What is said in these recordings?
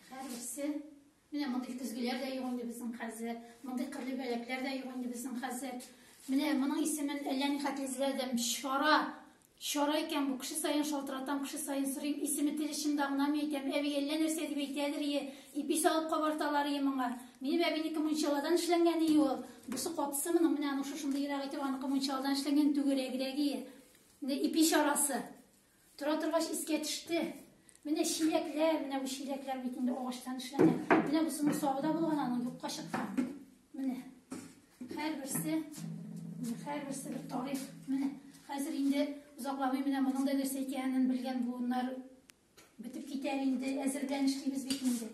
Хәрберсе Менә мондый көзгеләр дә юк инде безнең хәзер, мондый кырлы бәләкләр дә юк инде безнең хәзер. Менә моның исемен әллә ни хәтле эзләдем. Чара. Чара икән бу. Кеше саен шалтыратам, кеше саен сорыйм. Исеме тел очымда гына мин әйтәм. Әби әллә нәрсә дип әйтәдер ие. Ипи салып кабарталар ие моңа. Минем әбинеке мунчаладан эшләнгән ие ул. Бусы капсы моның менә аның шушындыйрагы итеп аныкы мунчаладан эшләнгән түгәрәгрәге ие. Менә ипи чарасы. Тора торгач искә төште. Менә чиләкләр, менә бу чиләкләр бит инде агачтан эшләнгән. Менә бусының сабы да булган, аның юкка чыккан. Менә. Һәрберсе, һәрберсе бер тарих. Менә. Хәзер инде озакламый менә моның да нәрсә икәнен белгән буыннар бетеп китәр инде, әзерләнеш дибез бит инде.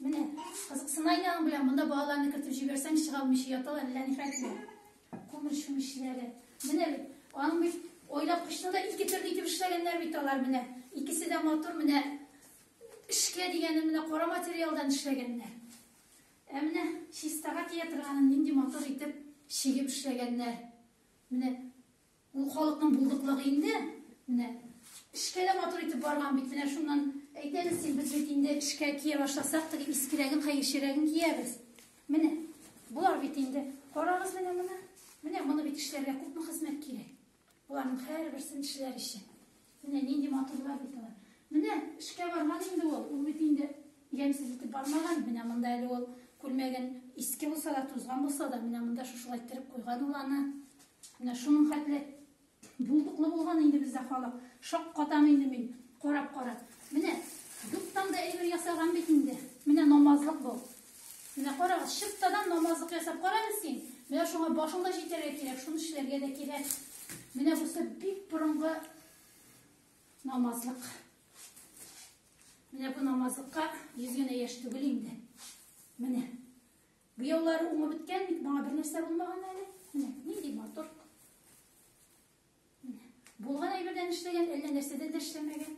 Менә, кызыксына инде аның белән, монда балаларны кертеп җибәрсәң, чыга алмыйча яталар, әллә ни хәтле. Күмер чүмечләре. Менә бит, аның бит ойлап кочны да ике төрле итеп эшләгәннәр бит алар менә. Икесе дә матур менә эшкә дигәнен менә кара материалдан эшләгәннәр. Ә менә чистага тия торганын нинди матур итеп чигеп эшләгәннәр. Менә Ул халыкның булдыклыгы инде. Менә эшкә дә матур итеп барган бит. Менә шуннан әйтәбез син без бит инде эшкә кия башласак, теге искерәген, хәерчерәген киябез. Менә болар бит инде. Карагыз менә моны. Менә моны бит эшләргә күпме хезмәт кирәк. Боларның һәрберсен эшләр өчен. Менә нинди матурлар бит алар. Менә эшкә барган инде ул. Ул бит инде ямьсез итеп бармаган. Менә монда әле ул күлмәген иске булса да, тузган булса да, менә монда шушылай иттереп куйган ул аны. Менә шуның хәтле булдыклы булган инде бездә халык. Шак катам инде мин карап-карап. Менә юктан да әйбер ясаган бит инде. Менә намазлык бу. Менә карагыз, чыптадан намазлык ясап кара әле син. Менә шуңа башың да җитәргә кирәк, шуны эшләргә дә кирәк. Менә бусы бик борынгы намазлык. Менә бу намазлыкка йөз генә яшь түгел инде. Менә. Бу еллары уңып беткән бит, моңа бер нәрсә булмаган әле. Менә, нинди матур. Булган әйбердән эшләгән, әллә нәрсәдән дә эшләмәгән.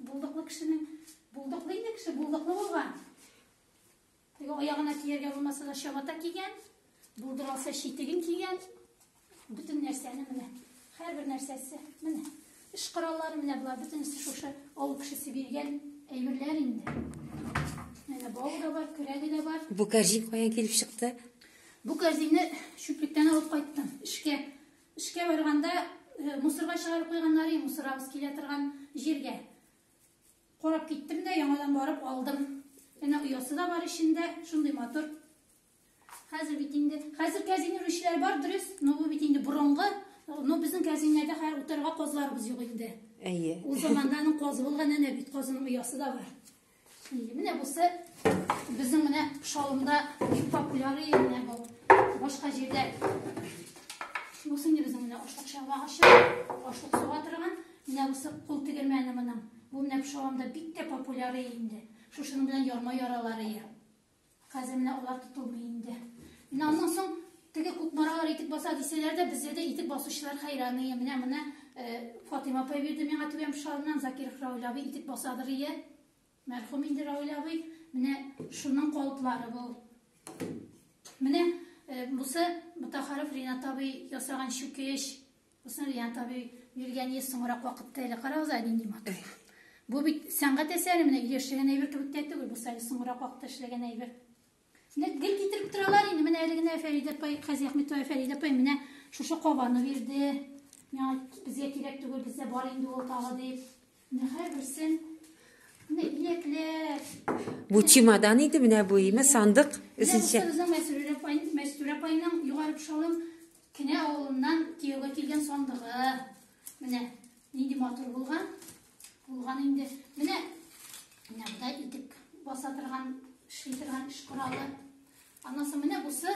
Булдыклы кешенең, булдыклы инде кеше, булдыклы булган. Теге аягына кияргә булмаса да чабата кигән, булдыралса читеген кигән. Бөтен нәрсәне менә, һәрбер нәрсәсе, менә, эш кораллары менә болар, бөтенесе шушы авыл кешесе биргән әйберләр инде. Менә бау да бар, көрәге дә бар. Бу кәрҗин каян килеп чыкты? Бу кәрҗинне чүплектән алып кайттым. Эшкә Эшкә барганда мусорга чыгарып куйганнары, мусорабыз килә торган җиргә. Карап киттем дә, яңадан барып алдым. Әнә оясы да бар эчендә, шундый матур. Хәзер бит инде, хәзер кәзин үрүчеләр бар, дөрес, но бу бит инде борынгы, но безнең кәзиннәрдә хәзер утырырга казларыбыз юк инде. Әйе. Ул заманда аның казы булган, әнә бит казының оясы да бар. Менә бусы безнең менә шалымда бик популяр менә бу. Башка җирдә бусы инде безнең менә ашлык чалмагачы, ашлык суга торган. Менә бусы кул тегермәне моның. Бу менә шалымда бик тә популяр инде. Шушының белән ярма яралар ия. Хәзер менә алар тотылмый инде. Менә аннан соң теге кукмаралар итек баса дисәләр дә, бездә дә итек басучылар хәйран ие. Менә моны э, Фатыйма апай бирде миңа түбән пышалыннан Закир Рауль абый итек басадыр ие. Мәрхүм инде Рауль абый. Менә шуның калыплары бу. Менә э, бусы Мутахаров Ринат абый ясаган чүкеч. Усмирьян табиб биргән йөз соңрак вакытта әле карагыз, Айдин Ниматов. Бу бит сәнгать әсәре менә өйдә эшләгән әйбер кебек тә түгел, бу әле соңрак вакытта эшләгән әйбер. Менә гел китереп торалар инде, менә әле генә Фәридә апай, Хәзи Әхмәтова Фәридә апай менә шушы кабаны бирде. Миңа безгә кирәк түгел, бездә бар инде ул тагы дип. Бу чемодан иде менә бу име сандык өченче. Мәстүрә апайның югары кушалым кенә авылыннан кияүгә килгән сандыгы. Менә нинди матур булган. Булган инде. Менә менә буда итек баса торган, эшли торган эш коралы. Аннан соң менә бусы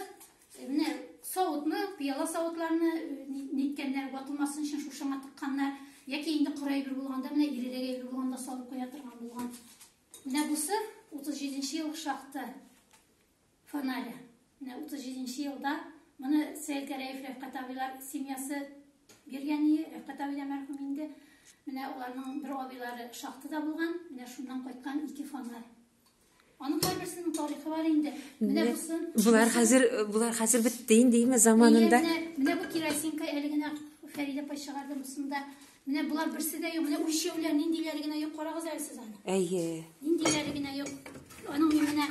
Э, менә савытны, пыяла савытларны э, ниткәннәр, ватылмасын өчен шушыңа тыкканнар. Яки инде коры әйбер булганда, менә ирерәк әйбер булганда салып куя торган булган. Менә бусы 37 ел шахта фонаря. Менә 37 елда моны Сәйд Гәрәев Рәфкат абыйлар семьясы биргән иде. Рәфкат абыйлар мәрхүм инде. Менә аларның бер абыйлары шахтада булган. Менә шуннан кайткан ике фонарь. Аның кайберсенең тарихы бар инде. Менә бусы. Булар хәзер, булар хәзер бетте инде име заманында. Менә бу керосинка әле генә Фәридә апа чыгарды мусында. Менә булар берсе дә юк. Менә үлчәүләр ниндиләре генә юк. Карагыз әле сез аны. Әйе. Ниндиләре генә юк. Аның менә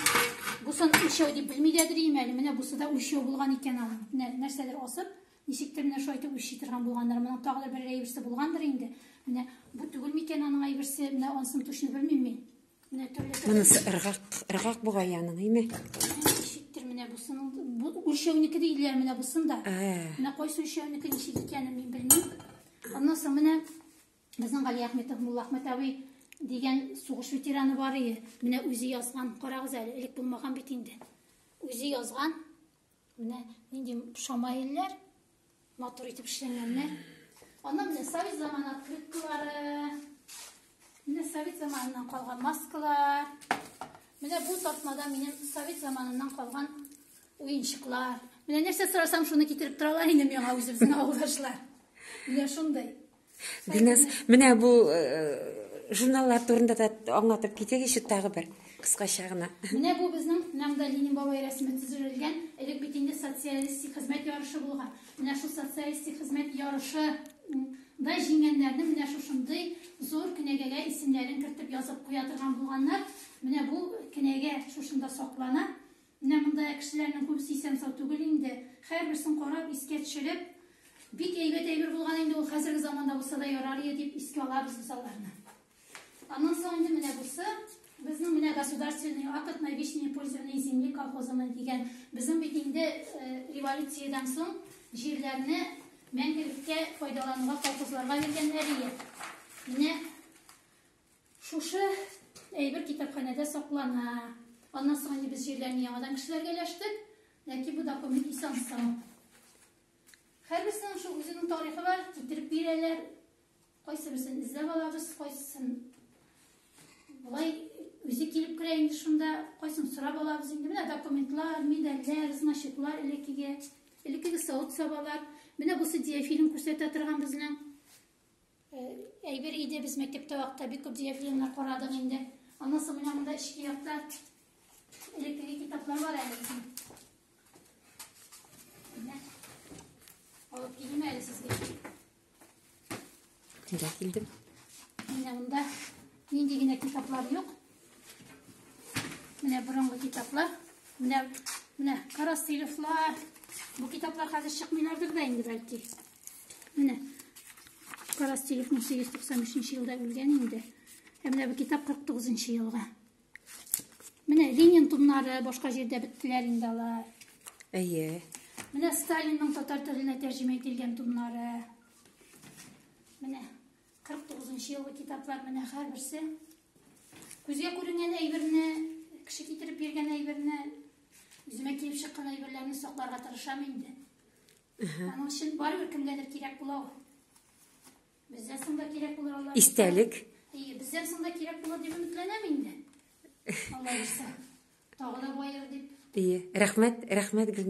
бусын үлчәү дип белми дә дөрим әле. Менә бусы да үлчәү булган икән аның. Менә нәрсәдер асып, ничектер менә шулай итеп үлчи торган булганнар. Моның тагы да бер әйберсе булгандыр инде. Менә бу түгелме икән аның әйберсе? Менә анысын точно белмим мин. Монысы ыргак, ыргак бугай яның, име? Ничектер менә бусының, бу үлчәүнеке диләр менә бусын да. Менә кайсы үлчәүнеке ничек икәнен мин белмим. Аннан соң менә безнең Гали Әхмәтов Мулла Әхмәт абый дигән сугыш ветераны бар иде. Менә үзе язган, карагыз әле, элек булмаган бит инде. Үзе язган Менә нинди шамаилләр, матур итеп эшләнгәннәр. Аннан менә совет заманы открыткалары. Менә совет заманыннан калган маскалар. Менә бу тартмада минем совет заманыннан калган уенчыклар. Менә нәрсә сорасам, шуны китереп торалар инде миңа үзебезнең авылдашлар. Менә шундый. Динас, менә бу журналлар турында да аңлатып китегезче тагы бер кыскача гына. Менә бу безнең нәмдә Ленин бабай рәсеме төзелгән, элек бит инде социалистик хезмәт ярышы булган. Менә шул социалистик хезмәт ярышы да җиңгәннәрне менә шушындый зур кенәгәгә исемнәрен кертеп язып куя торган булганнар. Менә бу кенәгә шушында саклана. Менә монда кешеләрнең күбесе исән-сау түгел инде. Һәрберсен карап, искә төшереп, бик әйбәт әйбер булган инде ул, хәзерге заманда булса да ярар иде дип искә алабыз без аларны. Аннан соң инде менә бусы безнең менә государственный акт на вечное пользование земли колхозының дигән безнең бит инде э, революциядән соң җирләрне мәңгелеккә файдалануга колхозларга биргәннәр иде. Менә Шушы әйбер китапханәдә саклана. Аннан соң инде без җирләрне яңадан кешеләргә өләштек. Ләкин бу документ исән сау. Һәрберсенең шул үзенең тарихы бар, китереп бирәләр. Кайсы берсен эзләп алабыз, кайсысын болай үзе килеп керә инде шунда, кайсын сорап алабыз инде. Менә документлар, медальләр, значоклар элеккеге, элеккеге савыт-сабалар. Менә бусы диафильм күрсәтә торган безнең Әйбер иде без мәктәптә вакытта бик күп дигән фильмнар карадык инде. Аннан соң менә монда эчке якта элеккеге китаплар бар әле безнең. Менә. Алып килим әле сезгә. Килә килдем. Менә монда нинди генә китаплар юк. Менә борынгы китаплар. Менә менә Карасыйловлар. Бу китаплар хәзер чыкмыйлардыр да инде бәлки. Менә Карастелев 1893 елда үлгән инде. Ә менә бу китап 49 елга. Менә Ленин томнары башка җирдә беттеләр инде алар. Әйе. Менә Сталинның татар теленә тәрҗемә ителгән томнары. Менә 49 елгы китаплар менә һәрберсе. Күзгә күренгән әйберне, кеше китереп биргән әйберне, үземә килеп чыккан әйберләрне сакларга тырышам инде. Аның өчен барыбер кемгәдер кирәк була ул. Бездән соң да кирәк булыр алар. Истәлек. Әйе, бездән соң да кирәк булыр дип өметләнәм инде. Алла бирсә. Тагы да баер дип. Әйе. Рәхмәт, рәхмәт Гөлназ.